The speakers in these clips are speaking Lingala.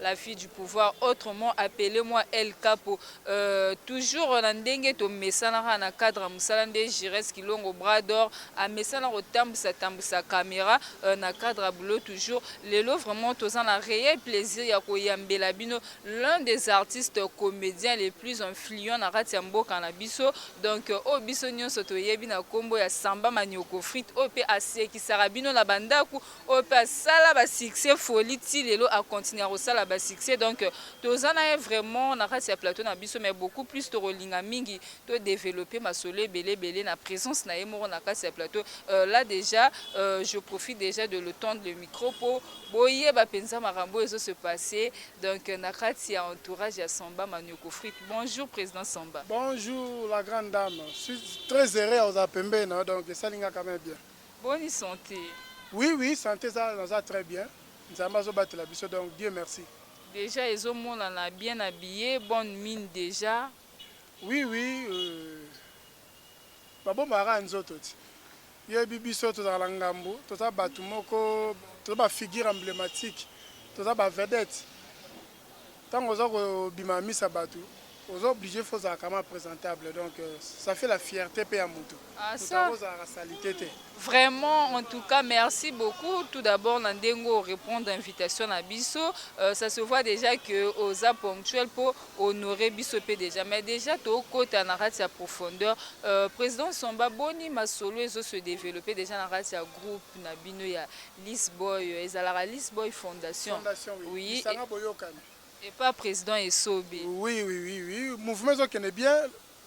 La fille du pouvoir autrement appele moi El Capo euh, toujours na ndenge tomesanaka na cadre ya mosala nde Gires Kilongo bras d'or amesana kotambusa tambusa camera euh, na cadre ya boulot toujours lelo vraiment toza na réel plaisir ya koyambela bino l'un des artistes comédiens les plus influents na kati ya mboka na biso donc euh, oyo biso nyonso toyebi na kombo ya Samba Manioko Frite oyo pe asekisaka bino na bandako Oyo pe asala ba succès folie ti lelo a continuer kosala ba succès donc toza na ye vraiment na kati ya plateau na biso mais beaucoup plus tokolinga mingi to developper masolo ebele ebele na presence na ye moko na kati ya plateau euh, là déjà euh, je profite déjà de le tendre le micro po boyeba penza makambo ezo se passer donc na kati ya entourage ya Samba Manioko Frite. Bonjour président Samba. Bonjour la grande dame, je suis très heureux aux apembe, donc ça linga quand même bien. Boni sante? Oui oui sante eza naza très bien nzambe azo batela biso donc Dieu merci. Dejà ezo monana bien habille bonne mine dejà. Oui oui euh ba bomaka kaka nzoto ti yo oyebi biso tozalaka na ngambu toza batu moko toza ba figure emblematique toza ba vedette tango oza ko bima na misa batu oza oblige faut ozala kama presentable donc ça fait la fierte pe ya mutu mutu yango ozalaka salite te. Vraiment en tout cas merci beaucoup tout d'abord na ndenge o repondre invitation na biso ça se voit dejà que oza ponctuel po honorer biso pe dejà mais dejà to kota na kati ya profondeur President Nsomba boni masolo ezo se developper dejà na kati ya groupe na bino ya Lys boy oyo ezalaka lys boy fondation Fondation oui oui lisanga boyokani. epa president esobe. Oui oui oui oui mouvement ezo kende bien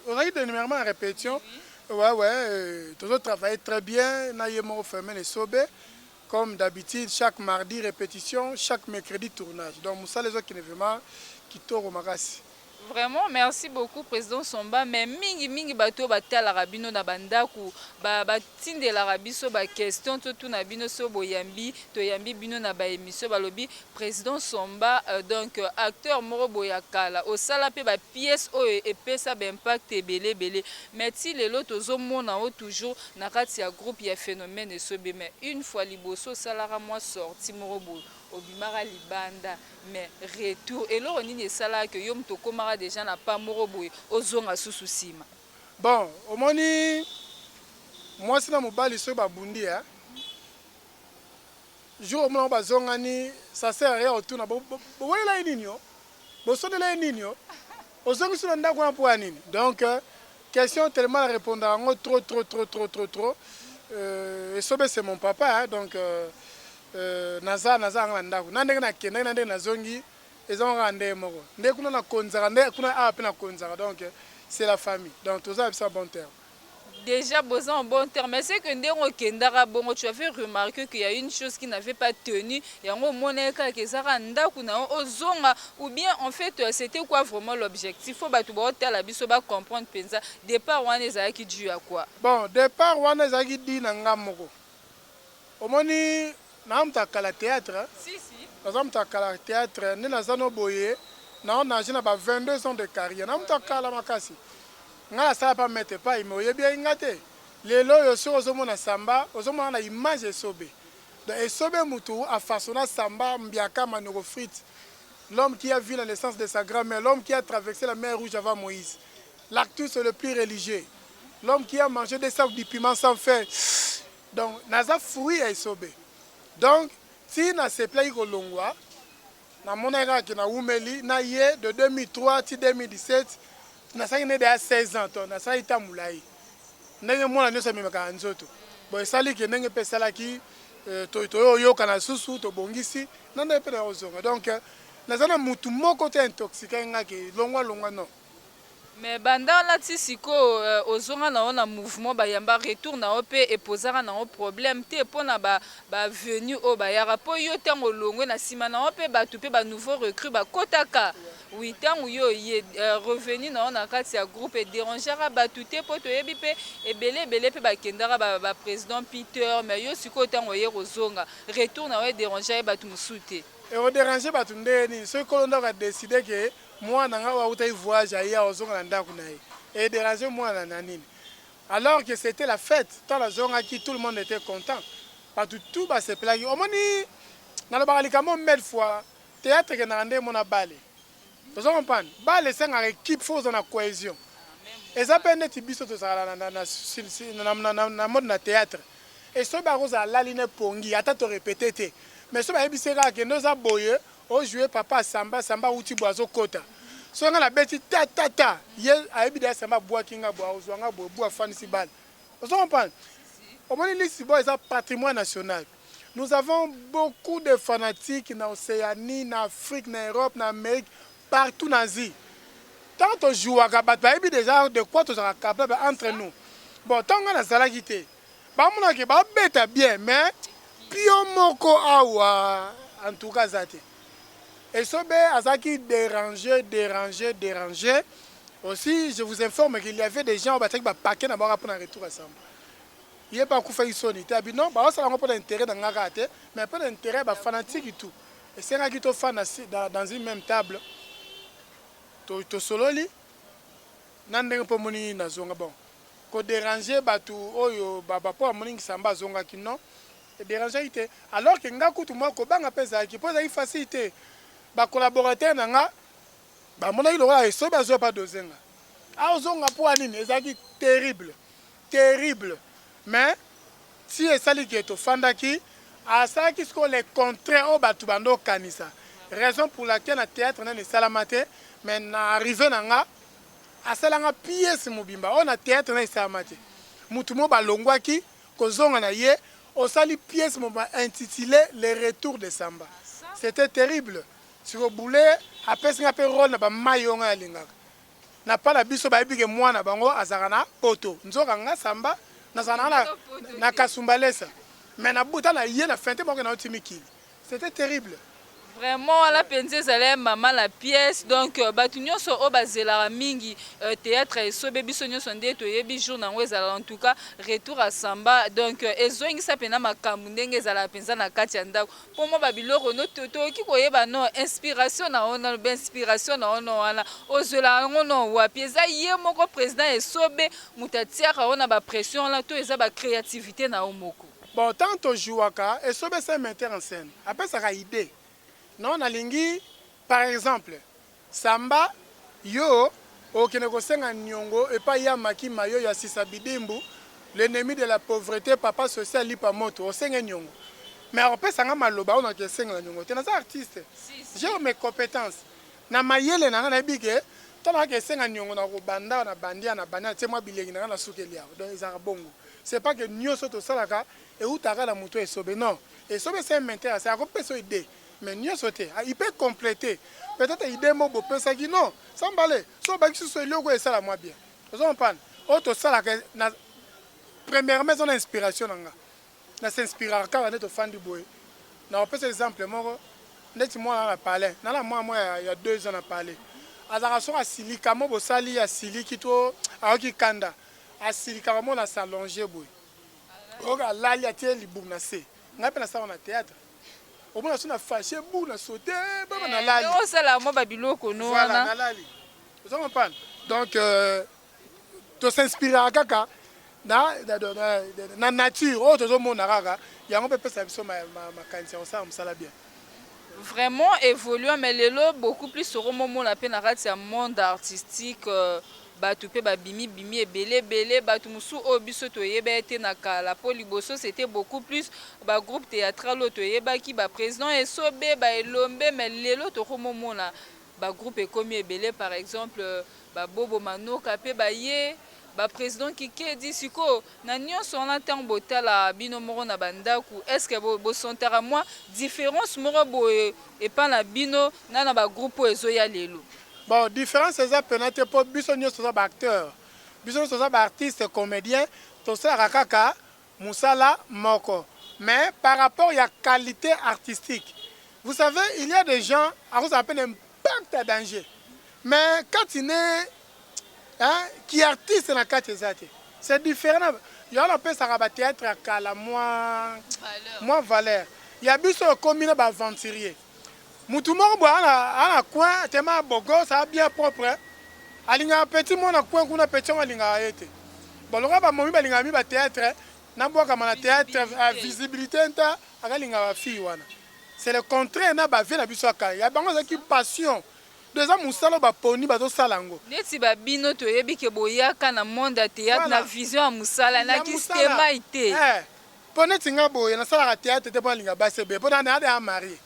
ozalaki dernièrement en repetition ouais ouais tozo travailler très bien na ye moko Fermin esobe comme d'habitude chaque mardi repetition chaque mercredi tournage donc musala ezo kende vraiment kitoko makasi. Vraiment merci beaucoup president somba mais mingi mingi batu oyo batalaka bino na ba ndaku ba batindelaka biso ba question totuna bino so boyambi toyambi bino na ba emission balobi president somba euh, donc euh, acteur moko boye ya kala osala pe ba pièce oyo epesa ba impact ebele ebele mais ti lelo tozomona o toujours na kati ya groupe ya phénomène esobe mais une fois liboso osalaka mwa sortie moko boye obimaka libanda Mais retour eloko nini esalaka que yo mutu okomaka dejà na pas moko boye ozonga susu sima. Bon omoni mwasi na mobali soki babundi hein jour omona bango bazongani ça sert à rien otuna bowelela ye nini oh? Bosonela ye nini oh? Ozongisi na ndaku wana mpo ya nini? Donc question tellement na repondaka yango trop trop trop trop trop trop euh, esobe c'est mon papa hein, donc euh, euh, naza naza anga na ndaku na ndenge nakendaki na ndenge nazongi eza kaka ndenge moko nde kuna nakonzaka nde kuna awa mpe nakonzaka donc c'est la famille donc toza na biso ya bon terme dejà boza en bon terme mais ce que ndenge okendaka bongo tu avais remarque que ya une chose qui n'avait pas tenu yango omonaki kaka eza kaka ndako na yo ozonga ou bien en fait euh, c'était quoi vraiment l'objectif po bato baotala biso ba comprendre mpenza départ wana ezalaki dû ya quoi bon départ wana ezalaki di na nga moko Omoni naza mutu ya kala theatre naza mutu ya kala theatre nde naza no boye nao nage na ba 22 ans de carrière naza mutu ya kala makasi ngai na sala pa maitre epayi mais oyebi yaye ngai te lelo oyo soki ozo mona samba ozo mona na image ya esobe donc esobe mutu a fasona samba mbiaka manoko frite l'homme qui a vu la naissance de sa grand mère l'homme qui a traverse la mer rouge avant moise l'actus le plus religieux l'homme qui a mange de sac du piment sans faire Donc naza fruit ya esobe donc ti na sepelaki kolongwa na monaki kaka ke na wumeli na ye de 2003 ti 2017 nasalaki na ye dejà 16 ans to nasalaki temps mulayi ndenge mwana nioso amemaka na nzoto bon esali ke ndenge pe esalaki toyo yokana lisusu tobongisi na ndenge pe nayo zonga donc naza na mutu moko te intoxiquaki nga ke longwa longwa non. Mais banda wana ti sikoyo ozonga na yo na mouvement ba yamba retour na yo pe e pozaka na yo problème te pona ba ba venus oyo ba yaka po yo tangu olongwe na sima na yo pe batu pe ba nouveaux recrues ba kotaka oui tangu yo oye revenu na yo na kati ya groupe e derangeaka batu te po to yebi pe ebele ebele pe ba kendaka ba ba president Peter mais yo sikoyo tangu oye ko zonga retour na yo e derangeaki batu mosusu te? Eko deranger batu ndenge nini soki kolo ndaku a decider que Muana nga oyo awutaki voyage aye awa ozonga na ndaku naye e derange muana na nini? Alors que c'etait la fete tango nazongaki tout le monde etait content batu tout ba sepelaki omoni nalobaka likambo mille fois theatre ekendaka nde mot na balle ozo comprendre? Balle esengaka equipe faut ozala na cohesion eza pe neti biso tozalaka na na na na mode na theatre esobe akozala alali na epongi ata to repeter te mais sobe ayebisi ye kaka kende oza boye O joue papa samba samba awuti boye azo kota soki nga na beti ta ta ta ye ayebi deja samba abuaki nga boye akozua nga boye bu afandisi balle ozo comprendre omoni lisi boye eza patrimoine national nous avons beaucoup de fanatiques na oceanie na afrique na europe na amerique partout na asie tango to jouaka bato bayebi deja de quoi tozalaka capable entre nous bon tango nga nazalaki te Ba mona ke ba beta bien mais pion moko awa en tout cas aza te. Esobe azalaki derange, derange, derange. Aussi je vous informe qu'il y avait des gens oyo batiaki ba paquets na bango kaka pona retour ya Samba. Ye pe akufaki soni te abi non bazo sala yango pona interet na nga kaka te mais pona interet ya ba fanatiques tout. Esengaki tofanda dans une meme table to tosololi. Nga ndenge po omoni nazonga bon ko deranger batu oyo ba ba po amoni Nsamba azongaki non e deranger ki te alors que nga kutu mua kobanga pe ezalaki po ezalaki facile te ba collaborateurs na nga ba monaki lokola esobe azo pa doser nga azo zonga po ya nini ezalaki terrible terrible mais tii esali ke tofandaki asalaki sikoyo le contraire oyo batu banda okanisa raison pour laquelle na theatre nanu esalama te mais na arrive na nga asala nga piece mobimba oyo na theatre nanu esalama te mutu moko balongwaki kozonga na ye osali piece mobimba intitule le retour de samba c'etait terrible sikoyo boulee apesi nga pe role na ba mayi oyo nga nalingaka na pas na biso bayebi ke muana na bango azalaka na poto nzoka nga samba nazalaka na na kasumbalesa mais na bota na ye na fente moko na yo ti mikili c'etait terrible. Vraiment wana penza ezali un maman la pièce donc euh, batu nionso oyo bazelaka mingi euh, theatre esobe biso nionso nde toyebi jour na yango ezala en tout cas retour à samba donc euh, ezongisa pena makambu ndenge ezalaka penza na kati ya ndako po mwa ba biloko no to tokoki koyeba no inspiration na yo na ba inspiration na yo no wana ozwelaka yango no wapi eza ye moko president ya esobe mutu atiaka yo na ba pression wana to eza ba creativite na yo moko? Bon tango to jouaka esobe c'est un metteur en scène apesaka idee no nalingi par exemple. Samba yo okende kosenga niongo epai y'a maki mayo y'a sisa bidimbu l'ennemi de la pauvrete papa social lipa moto osenge niongo mais akopesa nga maloba oyo nake sengela niongo te naza artiste j'ai mes competences na mayele nanga nayebi ke tango nake esenga niongo nako banda awa na bandi awa na bandi natie mwa bilengi nanga na sukeli awa donc ezalaka bongo c'est pas ke nioso tosalaka ewutaka kaka na mutu ya esobe non esobe c'est un menteur c'est ako pesa yo idee mais nioso te il peut completer peut etre idee moko bo pesaki non sans mbale soki obakisi lisusu eloko esala mwa bien ozo comprendre oyo tosalaka na premièrement eza na inspiration na nga na s'inspiraka kaka nde tofandi boye na opesa exemple moko ndeti mwana na palais na na mwana mwa ya 2 ans na palais azalaka soki asilika mo bosali asiliki to ayoki kanda asilikaka mo na s'allonger boye oyoka alali atie libumu na se ngai mpe nasalaka na théâtre Omona so na fache bu na saute eh, baba na lali. Eh, osala mwa ba biloko no wana. Voilà, na lali. Ozo comprendre? Donc euh, to s'inspirera kaka na na, na, na, na nature oyo tozo mona kaka yango pe pesa biso makanisi ya kosala mosala bien. Vraiment évoluant mais lelo beaucoup plus okomomona pe na kati ya monde artistique euh, Batu mpe ba bimi bimi ebele ebele batu mosusu oyo biso to yebee te na kala mpo liboso c'etait beaucoup plus ba groupe theatral oyo to yebaki ba president esobe ba elombe mais lelo to komo mona ba groupe ekomi ebele par exemple ba bobo manoka mpe ba ye ba president kikedi sikoyo na nionso wana tango bo tala bino moko na ba ndaku est ce que bo bo sentaka mua difference moko boye epa na bino na na ba groupe oyo ezo ya lelo? Bon difference eza pena te po biso nionso toza ba acteur biso nionso toza ba artiste comedien tosalaka kaka musala moko mais par rapport ya qualite artistique vous savez il ya des gens akozala pe na impact ya danger mais kati ne hein ki artiste na kati eza te c'est different na yango wana opesaka ba theatre ya kala mua mua valeur ya biso oyo ekomi na ba aventurier Mutu moko boye ana ana coin tema beau gosse a bien propre alingaka petit moko na coin kuna petit yango alingaka yete bon lokola ba momi balingaka mi ba theatre na bwakama na theatre visibilite nta aka linga ba fille wana c'est le contraire na ba vie na biso ya kala ya bango eza ki passion donc eza musala ba poni bazo sala ngo neti ba bino toyebi ke boyaka na monde ya theatre na vision ya musala na ki stemay te. Po neti nga boye na salaka theatre te po na linga basi ebele po na deja marie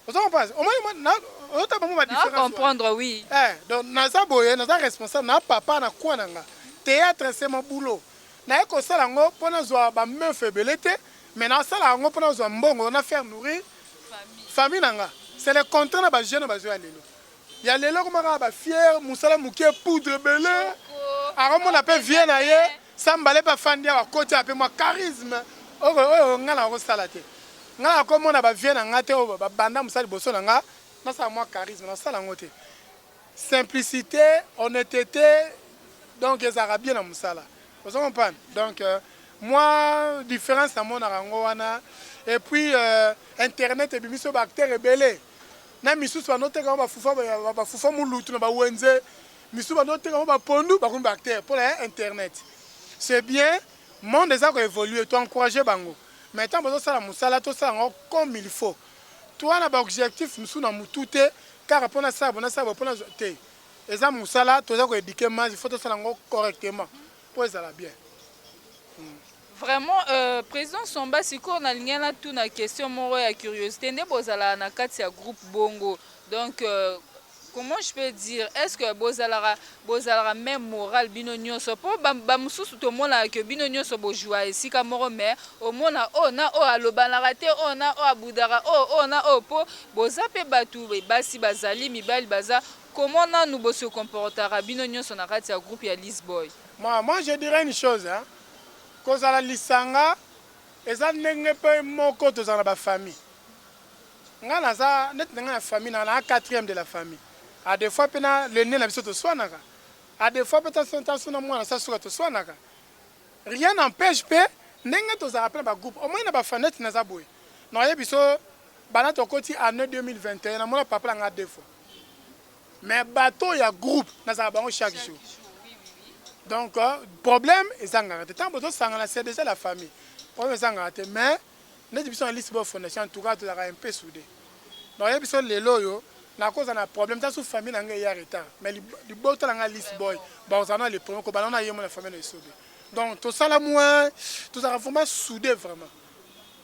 ozo comprendre omoni moi na ozo tala bango ba difference na comprendre oui eh donc naza boye naza responsable na papa na coin na nga theatre c'est mon boulot na ye ko sala ngo po na zua ba meuf ebele te mais na salaka ngo po na zua mbongo na faire nourrir famille na nga c'est le contraire na ba jeunes bazo ya lelo Ya lelo ekoma kaka ba fière musala mukie poudre ebele ako mona pe vie na ye sa mbala epa afandi awa akoti awa pe mua charisme oko oyo nga nako sala te nga nako mona ba vie na nga te oyo ba banda musala liboso na nga nasala mua charisme nako sala yango te simplicite honnetete donc ezalaka bien na musala ozo comprendre donc mua difference na monaka yango wana et puis internet ebimisi oyo ba acteurs ebele Na misusu bando teka ngo ba fufa ba fufa mulutu na ba wenze misusu bando teka ngo ba pondu bakomi ba acteur pona ya internet c'est bien monde eza ko evoluer to encourager bango mais tango bazo sala musala to sala ngo comme il faut toi na ba objectif misusu na mutu te kaka po na sala boye na sala boye po nazua te eza musala toza ko eduquer masse il faut to sala ngo correctement. po ezala bien hum. Vraiment euh, president Somba sikoyo nalingi na tuna question moko ya curiosité nde bozalaka na kati ya groupe bongo donc euh, comment je peux dire est-ce que bozalaka bozalaka même moral bino nyonso po bamosusu tomonaka ke bino nyonso bojua esika moko mais omona oyo oh, na oyo oh, alobanaka te oyo oh, na oyo abudaka oyo oyo na oyo po boza mpe bato basi bazali mibali baza Comment nanu bo se comportaka bino nionso na kati ya groupe ya Liz Boy? Moi moi je dirai une chose hein kozala lisanga eza ndenge pe moko tozala na ba famille nga naza neti na nga na famille na na quatrième de la famille a de fois pe na l'aine na biso toswanaka a de fois pe tanso na mwana sa suka toswanaka rien n'empeshe pe ndenge tozalaka pe na ba groupe omoni na ba famille neti naza boye na oyebi biso banda tokoti annee 2021 na mona papa na nga deux fois mais bato oyo ya groupe nazalaka bango chaque jour donc problème ezangaka te ntango bozosangana c'est déjà la famille problème ezangaka te mais neti biso na liste bo fondation en tout cas tozalaka un peu soudé donc ye biso lelo oyo nakoza na problème ta su famille na ngai eya retard mais libota na ngai liste boy bakozala na le premier kobanda wana ye mo na famille na esobe donc tosala moins tozalaka vraiment soudé vraiment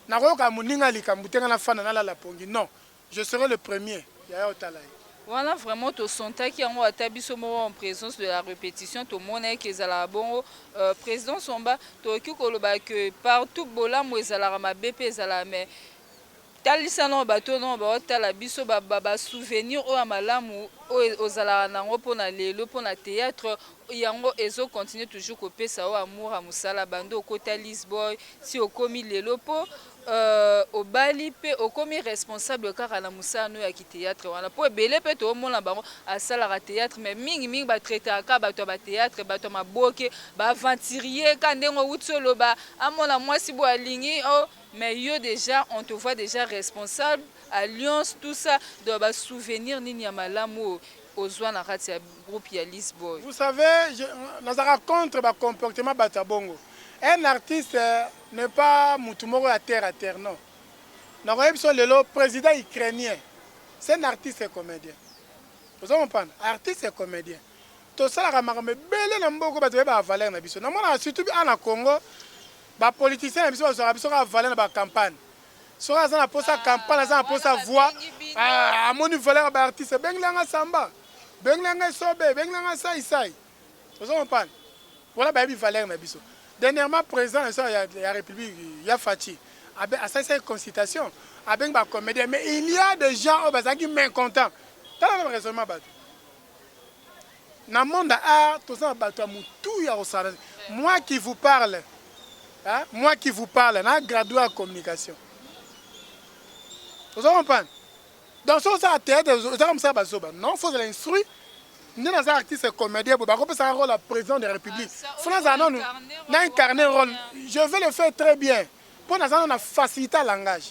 nakoyoka moninga likambo te ngai nafanda nalala pongi non Je serai le premier yaya otala ye. Wana vraiment to sentaki yango ata biso moko en presence de la repetition to monaki ke ezalaka bongo euh, president Somba tokoki koloba que partout bolamu ezalaka mabe pe ezalaka mais talisa nao bato nao baotala biso ba, ba, ba souvenir oyo ya malamu oyo ozalaka nango mpo na lelo mpo na théâtre yango ezo continue toujours kopesa yo amour ya mosala bando okota lisboy si okomi lelo mpo Euh obali pe okomi responsable kaka na musala no ya ki theatre wana po ebele pe to mona bango asalaka theatre mais mingi mingi ba traitaka kaka batu ya ba theatre batu ya maboke ba aventurier kaka ndenge owuti oloba amona mwasi boye alingi oh mais yo dejà on te voit dejà responsable alliance tout ça donc ba souvenir nini ya malamu oyo ozua na kati ya groupe ya Liss Boy? Vous savez je nazalaka contre ba comportement batu ya bongo un artiste n'est pas mutu moko ya terre à terre non nako yebisa yo lelo president ukrainien c'est un artiste et comedien ozo comprendre artiste et comedien tosalaka makambo ebele na mboka bato baye ba valeur na biso namonaka surtout bi a na Congo ba politiciens na biso bazwaka biso kaka valeur na ba campagne soki aza na posa campagne aza na posa voix amoni valeur ya ba artiste bengela nga samba bengela nga esobe bengela nga sai sai ozo comprendre wana bayebi valeur na biso dernièrement president na biso ya republique ya Fatshi abe asalisaki consultation abengi ba comedien mais il y a des gens oyo bazalaki mécontent tala na raisonnement bato na monde ya art toza na bato ya motu ya kosala moi qui vous parle hein? moi qui vous parle na graduat ya communication ozo comprendre Donc soki osala theatre ezaka mosala ba zoba non faut ozala instruit nde naza artiste comedien boye bakopesaka role ya president de republique fo nazala nanu na incarne role je vais le faire très bien mpo naza nanu na facilité ya langage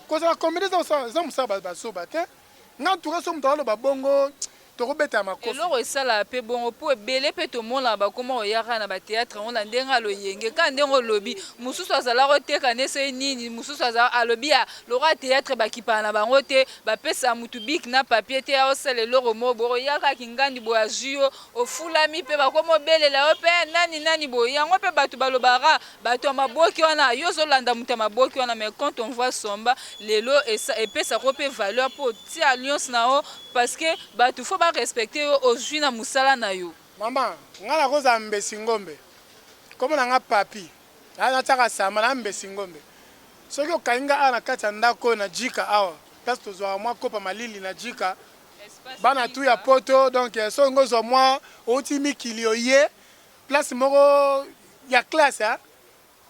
kozala comedien eza mosala ba zoba te nga ntuka so moto akoloba bongo Toko beta makofi. Eloko esala pe bongo po ebele pe tomonaka bakoma koya kaka na ba theatre yango na ndenge ya loyenge kaka ndenge olobi mususu azala koteka nde soki nini mususu aza alobi ya lokola theatre bakipaka na bango te bapesaka mutu bic na papier te ya osala eloko moko boye oya kaka kingandi boye azui yo ofulami pe bakoma obelela yo pe eh nani nani boye yango pe batu balobaka kaka batu ya maboke wana yo ozo landa mutu ya maboke wana mais quand on voit somba lelo esa epesaka yo pe valeur po otia alliance na yo Parce que batu faut ba respecter yo ozui na musala nayo. Maman nga nako zala mbesi ngombe kombo na nga papy aa na tiaka samba na mbesi ngombe soki okangi nga awa na kati ya ndako oyo na jika awa place to zuaka mwa kopa malili na jika bana tout ya poto donc soki ngo zua mwa owuti mikili oye place moko ya classe hein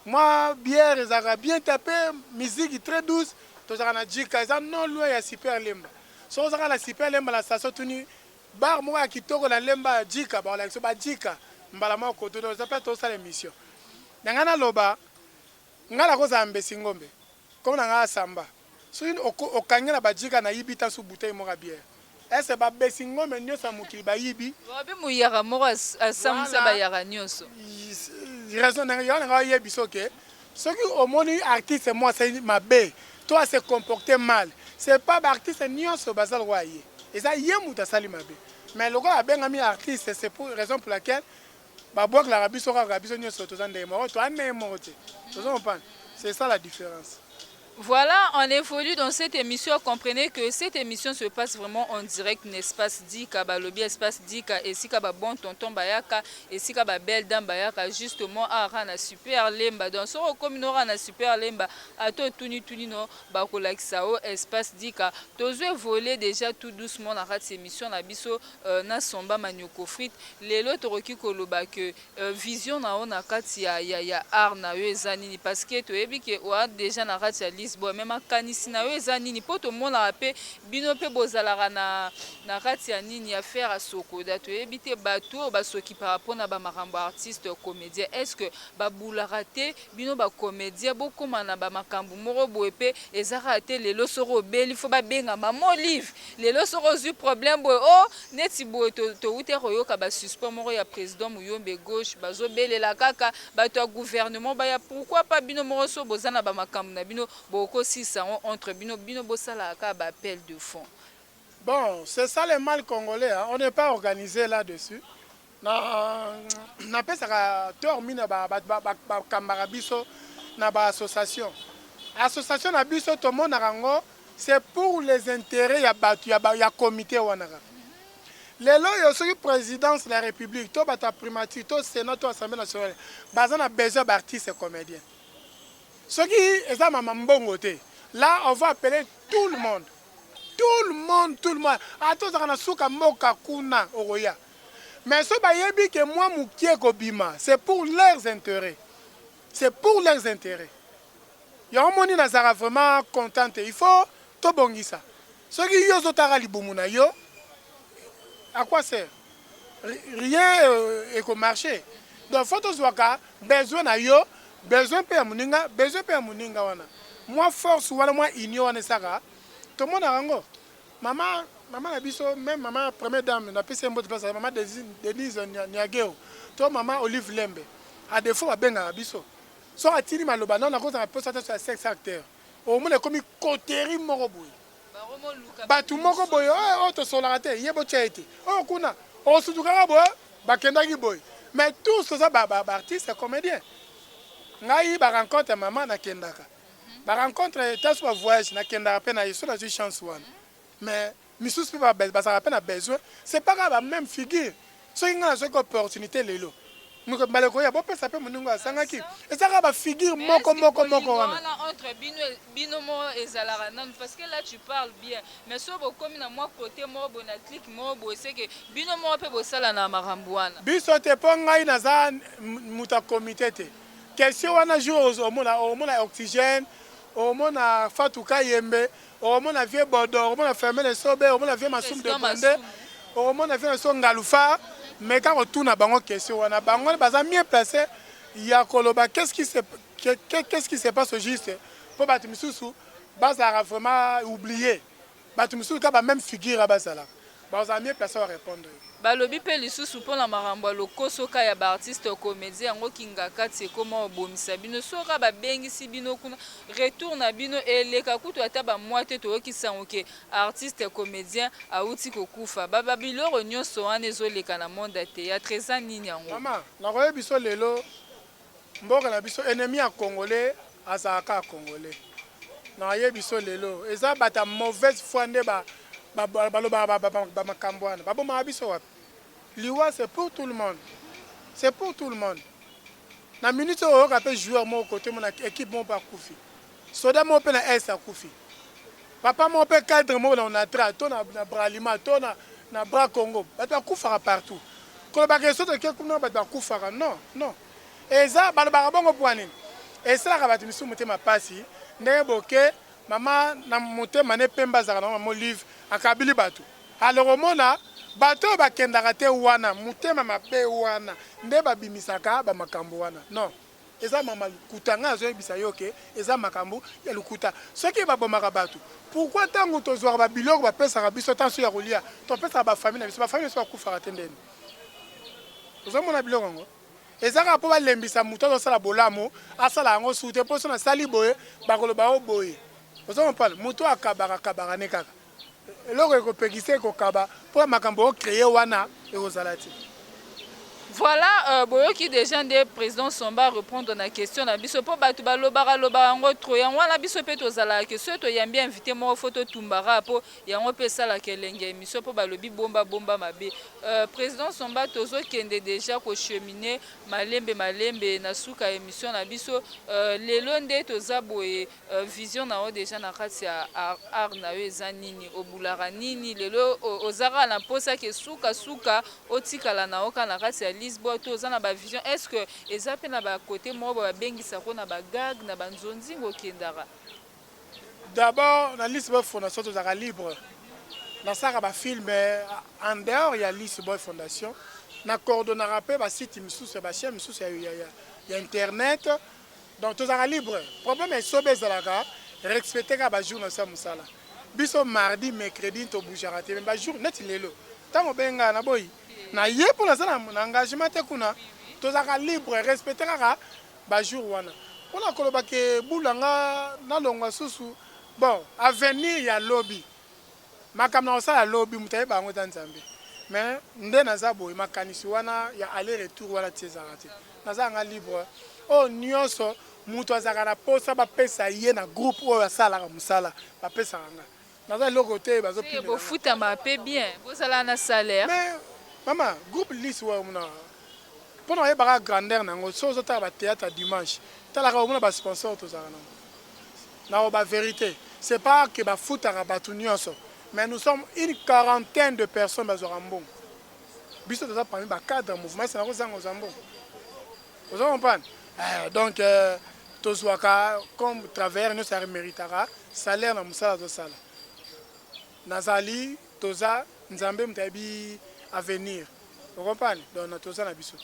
Mwa bière ezalaka bien tape musique très douce tozalaka na JK eza non loin ya super lemba soki oza kaka na super lemba na station otuni bar moko ya kitoko na lemba JK bakolakisa yo ba JK mbala moko koto donc eza place tozosala emission na ngai naloba ngai nakozala mbesingombe kombo na ngai asamba Soki oko okangi nga na ba djika na yibi ta su bouteille moko ya bière est ce ba besi ngombe nioso ya mokili ba yibi? Lobi muyaka moko a sambwisa ba yaka nioso. Voilà raison na nga yaka na nga ba yebi so ke soki omoni artiste moko asali mabe to a se comporter mal c'est pas ba artiste nioso baza lokola ye eza ye mutu asali mabe mais lokola abengami artiste c'est pour raison pour laquelle Ba bwaklaka biso kaka biso nioso toza ndenge moko toa ndenge moko te ozo comprendre c'est ça la difference. Voilà on evolue dans cette emission comprenez que cette emission se passe vraiment en direct n'espace dika balobi espace dika esika ba bon tonton bayaka esika ba belle dame bayaka justement awa kaka na super lemba donc soki okomi no kaka na super lemba ata otuni tuni no bakolakisa o espace dika tozo evolue deja tout doucement na kati emission na biso na somba manioko frite lelo tokoki koloba que vision na yo na kati ya ya ya art na yo eza nini parce que toyebi que oa dejà na kati ya lise boy mais makanisi na yo eza nini po tomonaka pe bino pe bozalaka na na kati ya nini ya ferre asokoda toyebi te batu oyo basokipaka pona ba makambo artiste comedien est ce que babulaka te Bino ba comedien bokoma na ba makambu moko boye pe eza kaka te lelo soki obeli faut ba benga maman olive lelo soki ozui problème boye oh neti boye to to wuta koyoka ba suspens moko ya president muyombe gauche bazo belela kaka batu ya gouvernement baya pourquoi pas bino moko soki boza na ba makambu na bino bokoki kosilisa yango entre bino bino bosalaka kaka ba appel de fond Bon c'est ça le mal congolais hein on ne pas organise là dessus Na na pesaka tort mine ba ba ba ba kambaka biso na ba association. Association na biso to monaka ngo c'est pour les interets ya batu ya ba ya comite wana kaka. Lelo yo soki presidence la republique to batu ya primature to senat to assemblee nationale baza na besoin ba artistes comediens. Soki eza mama mbongo te la on va appeler tout le monde. Tout le monde tout le monde ata ozaka na suka mboka kuna okoya. mais soki bayebi que mua mukie ekobima c'est pour leurs interets, c'est pour leurs interets yango omoni nazalaka vraiment content te il faut tobongisa soki yo ozotaka libumu na yo à quoi sert rien eko marcher donc faut tozuaka besoin na yo besoin pe ya muninga besoin pe ya muninga wana mua force wana mua union wana esaka tomonaka yango Mama mama na biso meme mama première dame na pesi mbote place mama Denise Niageo to mama Olive Lembe a defaut babengaka biso soki atindi maloba nao nakozala mposa te ya sex acteur omona ekomi coterie moko boye bato moko boye oyo oh, oh, tosolaka te ye botya ye te oyo oh, kuna osutukaka boye bakendaki boye mais tous toza baartiste comédien ngai barencontre ya mama nakendaka ba rencontre ta su ba voyage na kendaka pe na ye soki nazui chance wana mais misusu pe bazalaka pe na besoin c'est pas kaka ba meme figure soki nga nazwaki opportunite lelo mokolo mbala ekoya bopesa pe moninga azangaki eza kaka ba figure moko moko moko wana entre bino bino mo ezalaka nanu parce que là tu parles bien mais soki bokomi na mwa cote moko boye na clique moko boye seke bino moko pe bosala na makambo wana biso te po ngai naza muta comite te Question wana jour ozo mona omona oxygène omona Fatou Kayembe omona vieux Bodo omona Fermin Esobe omona vieux Masum de Bonde omona vieux Naso Ngalufa mais ka ko tuna bango question wana bango baza mieux placé ya koloba qu'est-ce qui se qu'est-ce qui se passe au juste po bato misusu bazalaka vraiment oublier Batu misusu kaka ba meme figure ya bazalaka bakozala mieux place ba repondre yo. Balobi pe lisusu pona makambo ya lokoso ka ya ba artistes comediens yango kingakati ekoma obomisa bino soki ka babengisi bino kuna retour na bino eleka kutu ata ba mois te toyoki sango ke artiste comedien awuti kokufa ba ba biloro nionso wana ezoleka na monde ya theatre eza nini yango. Maman nakoyebiso lelo Mboka na biso enemi ya congolais azalaka kaka congolais na ye biso lelo eza batu ya mauvaise foi nde balobaka ba makambu wana babomaka biso wapi liwa c'est pour tout le monde c'est pour tout le monde na minute oyo oyoka pe joueur moko cote moko na equipe moko pe akufi Soda moko pe na Est akufi. Papa moko pe cadre moko na Onatra to na Bralima to na Bra Congo. Batu bakufaka partout. Koloba ke soki toke kuna batu bakufaka non, non. Eza balobaka bongo pona nini? Esalaka batu misusu motema pasi ndenge boke mama na motema ne pembe azalaka nango mama Olive akabili batu. Alors omona batu oyo bakendaka te wana motema mabe wana nde babimisaka ba makambu wana non. eza mama lukuta nga nazo yebisa yo ke eza makambu ya lukuta soki ba bomaka batu pourquoi tangu tozuaka ba biloko ba pesaka biso ta soki ya kolia to pesaka ba famille na biso ba famille na biso ba kufaka te ndeni ozo mona biloko yango eza kaka po ba lembisa mutu azo sala bolamu asala yango sute po so na sali boye ba koloba o boye ozo comprendre mutu akabaka kabaka ne kaka Eloko ekopekisa ye kokaba po makambo o creer wana ekozala te. Voilà boyoki dejà nde president Somba a repondre na question na biso po batu balobaka lobaka yango trop yango wana biso pe tozalaka ke soki toyambi invite moko faut totumbaka po yango pe esalaka elengi ya emission po balobi bomba bomba mabe president Somba tozokende dejà ko cheminer malembe malembe na suka ya emission na biso lelo nde toza boye Vision na yo dejà na kati ya art na yo eza nini? Obulaka nini? Lelo oza kaka na posa que suka suka otikala na yo kaka na kati ya Lisbole to oza na ba vision? Est ce que eza pe na ba cote moko ba babengisaka yo na ba gag na ba nzonzing okendaka? D'abord na Lisbole fondation tozalaka libre nasalaka ba film en dehors ya Lisbole fondation na coordonnaka pe ba site misusu ya ba chaine misusu ya internet. Donc tozalaka libre. Problème ya esobe ezalaka respecter kaka ba jours na biso ya musala. Biso mardi, mercredi to bougeaka te mais ba jours neti lelo tango obengi nga naboyi naye po naza na engagement te kuna tozalaka libre respecter kaka ba jours wana. Pona koloba que bula nga nalongwa susu bon avenir ya lobi. Makambo nakosala lobi moto ayebaka yango eza Nzambe mais nde naza boye makanisi wana ya aller retour wana ti ezalaka te nazalaka nga libre oyo nionso moto azalaka na posa bapesa ye na groupe oyo asalaka mosala bapesaka nga naza eloko te bazo pimela nga mais bofutama pe bien bozala na salaire mais mama groupe liss oyo omonaka pona oyeba kaka grandeur na yango soki ozo tala ba theatre ya dimanche talaka omona ba sponsor tozalaka na yango. naloba verite c'est pas que bafutaka batu nionso mais nous sommes une quarantaine de personnes bazwaka mbongo biso toza parmi ba cadre ya mouvement esi nakozanga kozwa mbongo ozo comprendre eh, donc euh, tozwaka comme travailleur nionso ya remeritaka salaire na mosala tozosala Nazali, toza, Nzambe moto ayebi avenir. O comprendre? Donc na toza na biso.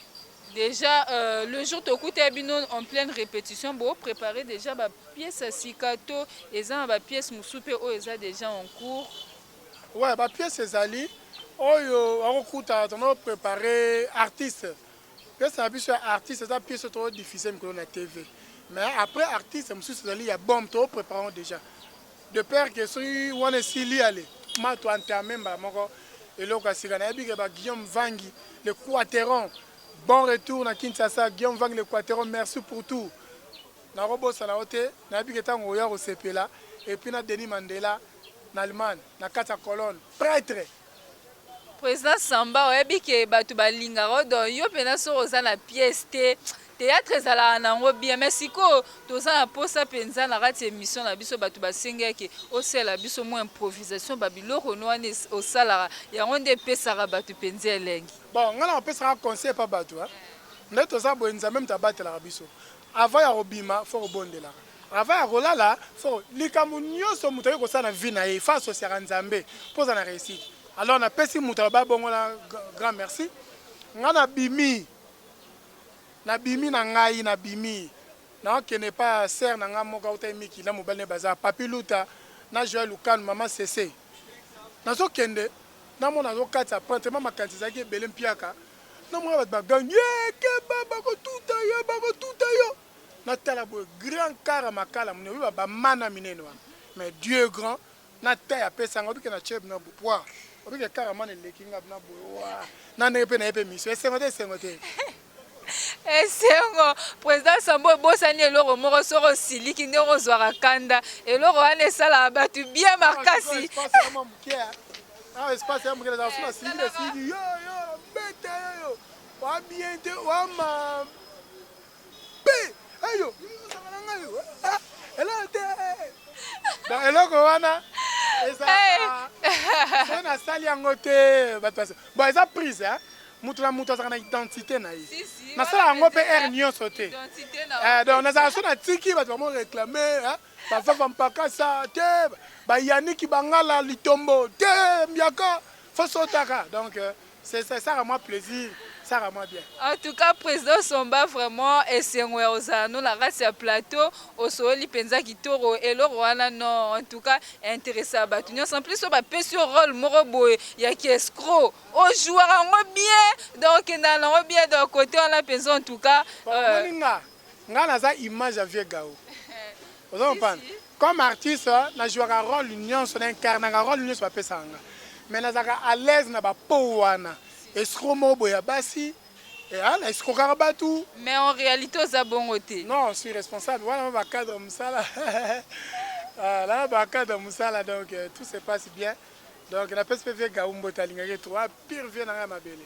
Dejà euh, le jour tokuta bino en pleine répétition bo préparer déjà ba pièces ya sika to eza na ba pièces mosusu mpe oyo eza déjà en cours ouais ba pièces ezali oyo akokuta tono préparer artiste pièce na biso ya artiste eza pièce oyo too diffuse mikolo na tv mais après artiste mosusu ezali ya bombe too préparant déjà De peur que soki wana esili ale ma to entame mbala moko eloko ya sika. Nayebi que ba Guillaume Vangi le Quateron bon retour na Kinshasa Guillaume Vangi le Quateron merci pour tout nako bosana yo te nayebi que tango oya kosepela et puis na Denis Mandela na Allemagne na kati ya colonne pretre President Samba oyebi ke batu ba lingaka yo donc yo penza soki oza na pièce te theatre ezalaka na yango bien mais sikoyo toza na posa penza na kati ya emission na biso batu ba sengi ya ke osalela biso mua improvisation ba biloko no wana osalaka yango nde epesaka batu penza elengi. Bon nga nako pesaka conseil epa batu hein nde toza boye nzambe mutu abatelaka biso avant ya kobima faut kobondelaka Avant ya kolala faut likambo nioso mutu aye kosala na vie na ye il faut associaka nzambe po oza na reussite alors na pesi mutu aloba bongo na grand merci nga na bimi na bimi na ngai na bimi na kende epa sœur na nga moko auta emiki na mobali ne baza papi luta na joel lukanu maman sese nazo kende na mona nazo katisa prente ma makanisi ezalaki ebele mpiaka na mona bato bagangi ye keba bakotuta yo bakotuta yo na tala boye grand kara makala mune obi ba mana minene wana mais Dieu est grand na taille apesa nga obi ke na tshie bna bu poire obi ke kara mana eleki nga bna boye wa na ndenge pe na ye pe emission esengo te esengo te esengo president sambo obosani eloko moko soko osiliki ndenge ozwaka kanda eloko wana esalaka bato bien makasi awa espace ya mokele ezala suna sili esili yo yo beta yo yo wa bien te wa mabe Mpe eyo ekozala na ngai eloko te. Donc eloko wana ezalaka soki nasali yango te bato basi bon eza prise hein moto na moto azalaka na identité na ye nasala yango mpe aire nyonso te eh, donc nazalaka so natiki bato bamo réclame bavava mpakasa te bayaniki bangala litombo te mbiaka fosotaka donc euh, C'est ça, ça rend moi plaisir, ça rend moi bien. En tout cas, président Somba, vraiment, esengo ya ozala no na kati ya plateau, osololi penza kitoro, eloko wana non, en tout cas, interessa batu nyonso. En plus, oyo bapesi yo rôle moko boye ya ki escroc, ojouaka yango bien, donc okendaka na yango bien, donc kote wana penza en tout cas. Omoni nga, nga naza image ya vieux Gaou. Ozo comprendre? Comme artiste na jouaka role nionso na incarnaka role nionso ba pesaka nga mais nazalaka à l'aise na ba pow wana escroc moko boye ya basi eeh na escrokaka batu Mais en realite oza bongo te. Non je suis responsable wana ba cadre musala ah na ba cadre musala donc tout se passe bien donc na pesi pe vieux Gaou mbote alingaka ye trop ah pire vieux na nga ya mabele.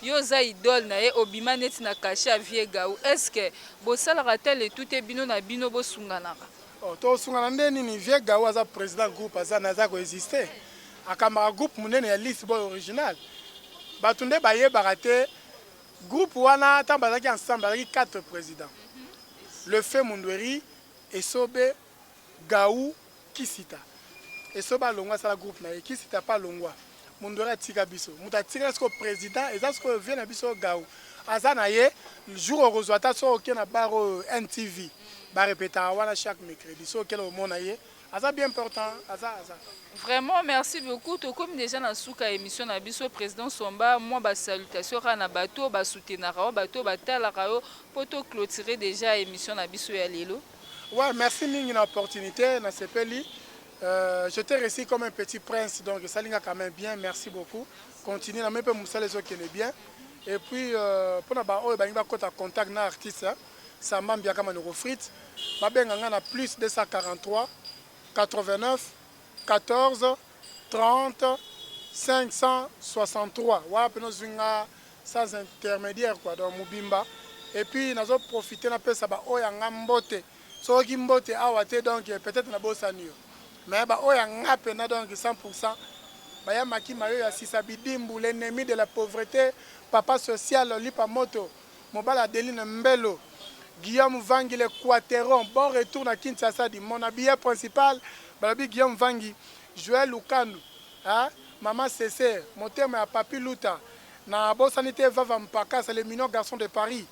Yo oza idole na ye obima neti na cachet ya vieux Gaou est ce que bosalaka ata le tout te bino na bino bosunganaka? Oh to sungana nde nini vieux Gaou aza president groupe aza mais aza ko exister akambaka groupe munene ya liste boy original batu nde bayebaka te groupe wana tango bazalaki ensemble bazalaki 4 president le feu mundueri esobe Gaou kisita esobe alongwa asala groupe naye kisita pe alongwa mundore atika biso mutu atikala sikoyo president eza sikoyo vieux nabiso oyo Gaou aza naye jour okozua ata soki oke na bar oyo NTV ba repetaka wana chaque mercredi soki oke na okomona ye aza bien important aza aza Vraiment merci beaucoup tokomi dejà na suka ya emission na biso president somba mua ba salutation kaka na batu oyo ba soutenaka yo batu oyo batalaka yo po to cloturer dejà emission na biso ya lelo. Ouais merci mingi na opportunite na sepeli euh, je t'ai reçu comme un petit prince donc esali nga quand même bien merci beaucoup continue na moni mpe mosala ezokende bien et puis euh, mpo na baoyo balingi bakota contact na artiste hein, samba mbiaka manoko frite babenga nga na plus 243 89 14 30 563 wapi nozwi nga sans intermediaire quoi donc mobimba et puis nazo profiter na pesa ba oyo ya nga mbote soki mbote awa te donc peut etre na bosani yo mais ba oyo ya nga pena donc 100 pour 100 baya maki mayo ya sisa bidimbu l'ennemi de la pauvrete papa social lipa moto mobali adeline mbelo Guillaume vangi le quateron bon retour na kinshasa di mon habilleur principal balobi Guillaume vangi Joël lukandu Eeh maman sese motema ya papy luta na bosani te vava mpakasa le minion garçon de paris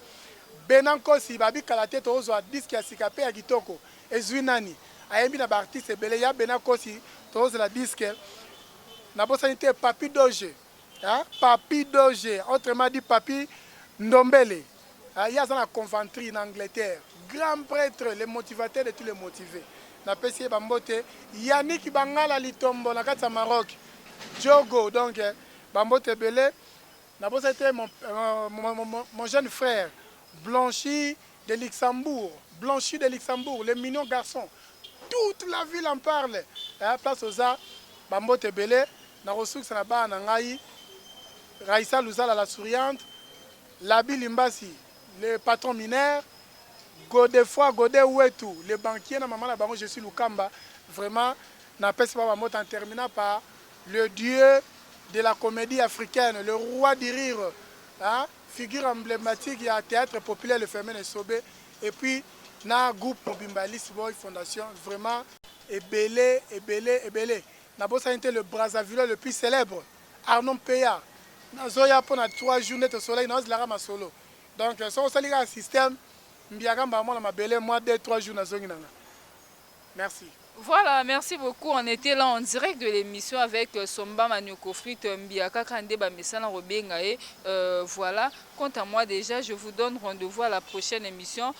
bena nkosi ba bi kala te too zua disc ya sika pe ya kitoko ezui nani ayembi na ba artiste ebele ya bena nkosi too zela disc na bosani te papy doge eeh papy doge autrement dit papy ndombele. Ah ye aza na Coventry na Angleterre grand pretre le motivateur de tout le motive na pesi ye ba mbote Yannick bangala litombo na kati ya Maroc djogo donc ba mbote ebele na bosani te mon jeune frère Blanchy de Luxembourg Blanchy de Luxembourg le mignon garçon toute la ville en parle eh place oza ba mbote ebele na kosukisa na bana na ngai Raissa Luzala la souriante Labi Limbasi le patron mineur, Godefroid Gode Wetu le banquier na maman na bango Jessie Lukamba, vraiment na pesi bango ba mbote en terminant par le dieu de la comedie africaine, le roi du rire hein, figure emblematique ya theatre populaire le fermin Esobe et puis na groupe mobimba ya Lissboy fondation vraiment ebele ebele ebele na bosani te le brazzavillois le plus celèbre. Arnaud Mpeya nazoya pona trois jours nde tosolaki nayo zlaka masolo donc soki osali kaka système mbiaka mbala moko na mabele mwa deux trois jours nazongi nanga merci. Voilà merci beaucoup on etait là en direct de l'emission avec Somba Manioko Frite Mbiaka kaka nde ba mesana kobenga ye voilà quant à moi dejà je vous donne rendez-vous à la prochaine emission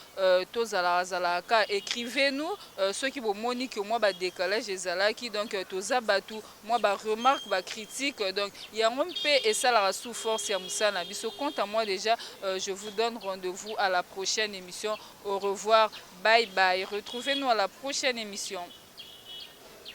tozalaka zalaka kaka ecrivez nous soki bomoni que mwa ba decalage ezalaki donc toza batu mwa ba remarques, ba critiques, donc yango mpe esalaka sous force ya mosala na biso, quant à moi dejà je vous donne rendez-vous à la prochaine emission, au revoir, bye bye, retrouvez nous à la prochaine emission.